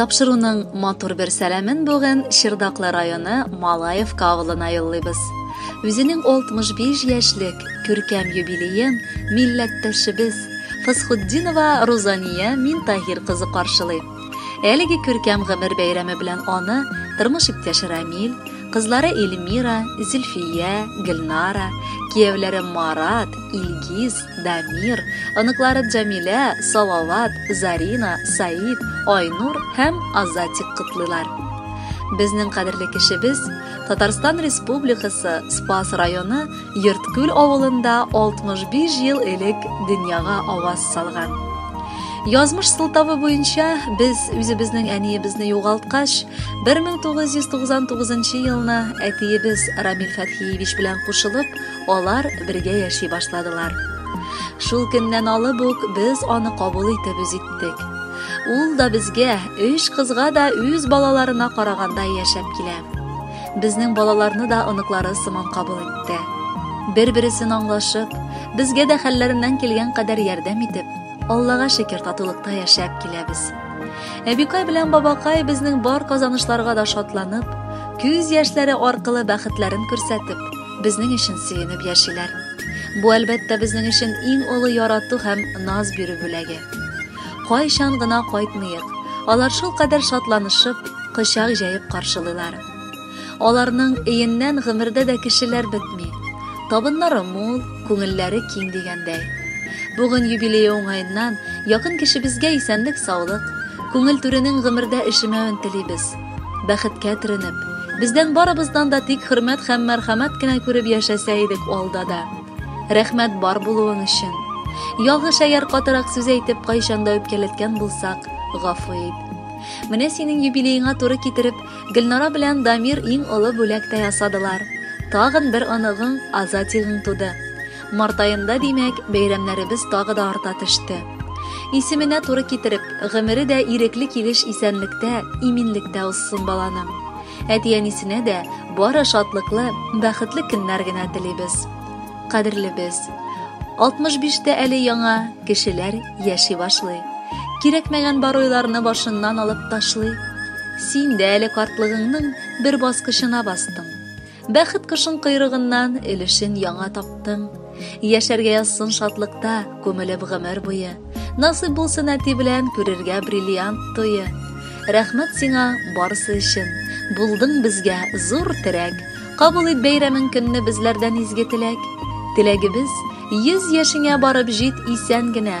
Тапшыруның матур бер сәламен бүген Чырдаклы районы Малаевка авылына юллыйбыз. Үзенең 65 яшьлек күркәм юбилеен милләттәшебез Фасхутдинова Рузания Минтаһир кызы каршылый. Әлеге күркәм гомер бәйрәме белән аны тормыш иптәше Рамил, кызлары Эльмира, Зөлфия, Гөлнара, кияүләре Марат, Илгиз, Дамир, оныклары Җамилә, Салават, Зарина, Саид, Айнур һәм Азатик котлыйлар. Безнең кадерле кешебез Татарстан Республикасы Спас районы Йорткүл авылында 65 ел элек дөньяга аваз салган. Язмыш сылтавы буенча без үзебезнең әниебезне югалткач, 1999 елны әтиебез Рамил Фәтхиевич белән кушылып, алар бергә яши башладылар. Шул көннән алып ук без аны кабул итеп үз иттек. Ул да безгә, өч кызга да үз балаларына караганда яшәп килә. безнең балаларны да оныклары сыман кабул итте. Бер-бересен аңлашып, безгә дә хәлләреннән килгән кадәр ярдәм итеп, Аллага шөкер татулыкта яшәп киләбез. Әбикай белән бабакай безнең бар казанышларга да шатланып, күз яшьләре аркылы бәхетләрен күрсәтеп, безнең өчен сөенеп яшиләр. Бу әлбәттә безнең өчен иң олы ярату һәм наз бирү бүләге. кайчан гына кайтмыйк, алар шулкадәр шатланышып, кочак җәеп каршылыйлар. Аларның өеннән гомердә дә кешеләр бетми. Табыннары мул, күңелләре киң дигәндәй. Бүген юбилее уңаеннан якын кешебезгә исәнлек-саулык, күңел түренең гомердә өшемәвен телибез. Бәхеткә төренеп, бездән барыбыздан да тик хөрмәт һәм мәрхәмәт кенә күреп яшәсә идек алда да. Рәхмәт бар булуың өчен. Ялгыш әгәр катырак сүз әйтеп кайчанда үпкәләткән булсак, гафу ит. Менә синең юбилееңа туры китереп, Гөлнара белән Дамир иң олы бүләк тә ясадылар. Тагын бер оныгың, Азатигың туды. Март аенда, димәк, бәйрәмнәребез тагы да арта төште. Исеменә туры китереп, гомере дә ирекле килеш исәнлектә, иминлектә узсын баланың. Әти-әнисенә дә бары шатлыклы, бәхетле көннәр генә телибез. Кадерлебез, 65-тә әле яңа кешеләр яши башлый. Кирәкмәгән бар уйларны башыннан алып ташлый. Син дә әле картлыгыңның бер баскычына бастың. Бәхет кошын койрыгыннан өлешен яңа таптың. Яшәргә язсын шатлыкта, күмелеп гомер буе. Насыйп булсын әти белән күрергә бриллиант туе. Рәхмәт сиңа барысы өчен. Булдың безгә зур терәк. Кабул ит бәйрәмең көнне безләрдән изге теләк. Теләгебез, йөз яшеңә барып җит исән генә.